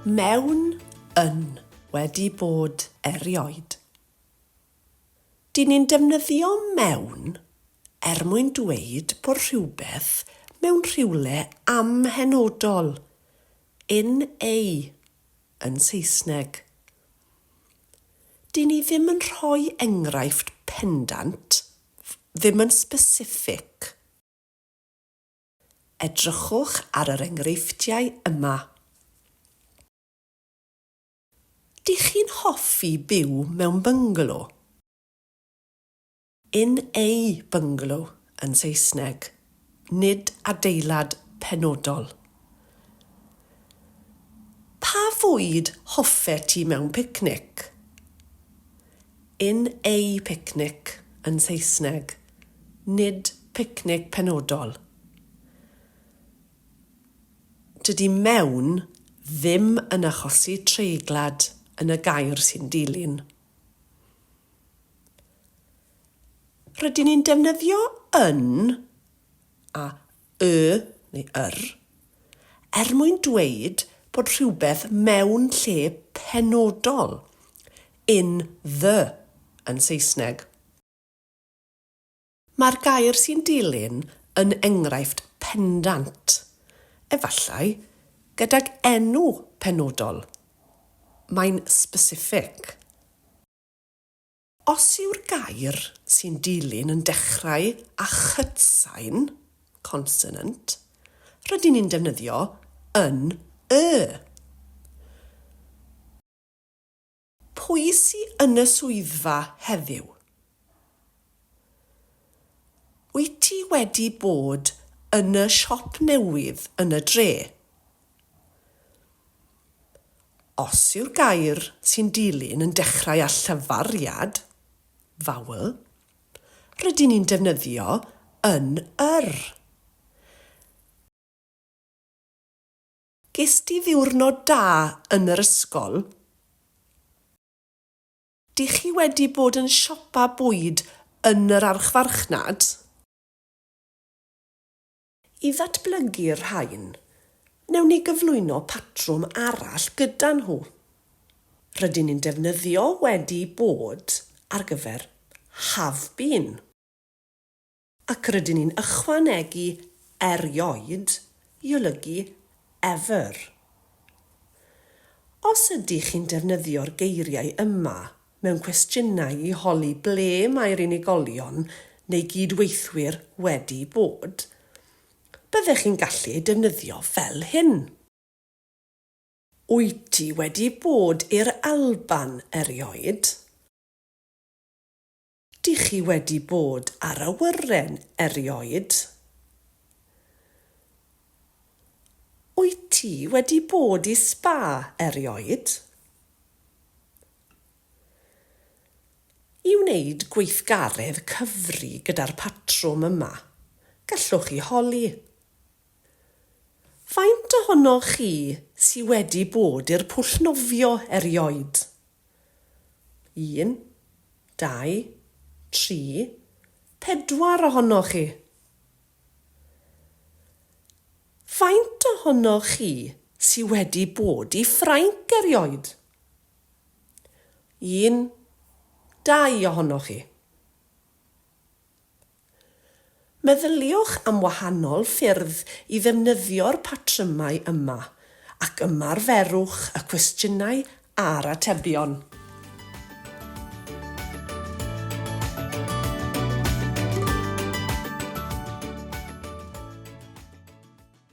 Mewn yn wedi bod erioed. Dyn ni'n defnyddio mewn er mwyn dweud bod rhywbeth mewn rhywle amhenodol, in a. yn Saesneg. Dyn ni ddim yn rhoi enghraifft pendant, ddim yn specific. Edrychwch ar yr enghreifftiau yma. Dych chi'n hoffi byw mewn byngalo? Yn eu bynglo yn Saesneg, nid adeilad penodol. Pa fwyd hoffet ti mewn picnic? Yn eu picnic yn Saesneg, nid picnic penodol. Dydy mewn ddim yn achosi treiglad yn y gair sy'n dilyn. Rydyn ni'n defnyddio yn a y neu yr er mwyn dweud bod rhywbeth mewn lle penodol, in the yn Saesneg. Mae'r gair sy'n dilyn yn enghraifft pendant, efallai, gydag enw penodol. Mae'n specific. Os yw'r gair sy'n dilyn yn dechrau â chytsain, consonant, rydyn ni'n defnyddio yn y. Pwy sy yn y swyddfa heddiw? Wyt ti wedi bod yn y siop newydd yn y dre? Os yw'r gair sy'n dilyn yn dechrau â llyfariad, vowel, rydyn ni'n defnyddio yn yr. Gest ti ddiwrnod da yn yr ysgol? Dych chi wedi bod yn siopa bwyd yn yr archfarchnad? I ddatblygu'r rhain, wnewn ni gyflwyno patrwm arall gyda nhw. Rydyn ni'n defnyddio wedi bod ar gyfer have been. Ac rydyn ni'n ychwanegu erioed i olygu ever. Os ydych chi'n defnyddio'r geiriau yma mewn cwestiynau i holi ble mae'r unigolion neu gyd-weithwyr wedi bod, byddech chi'n gallu eu defnyddio fel hyn. Wyt ti wedi bod i'r Alban erioed? Dych chi wedi bod ar awyren erioed? Wyt ti wedi bod i sba erioed? I wneud gweithgaredd cyfri gyda'r patrwm yma, gallwch chi holi. Faint ohonoch chi sy wedi bod i'r pwll nofio erioed? Un, dau, tri, pedwar ohonoch chi. Faint ohonoch chi sy wedi bod i Ffrainc erioed? Un, dau ohonoch chi. Meddyliwch am wahanol ffyrdd i ddefnyddio'r patrymau yma, ac ymarferwch y cwestiynau a'r atebion.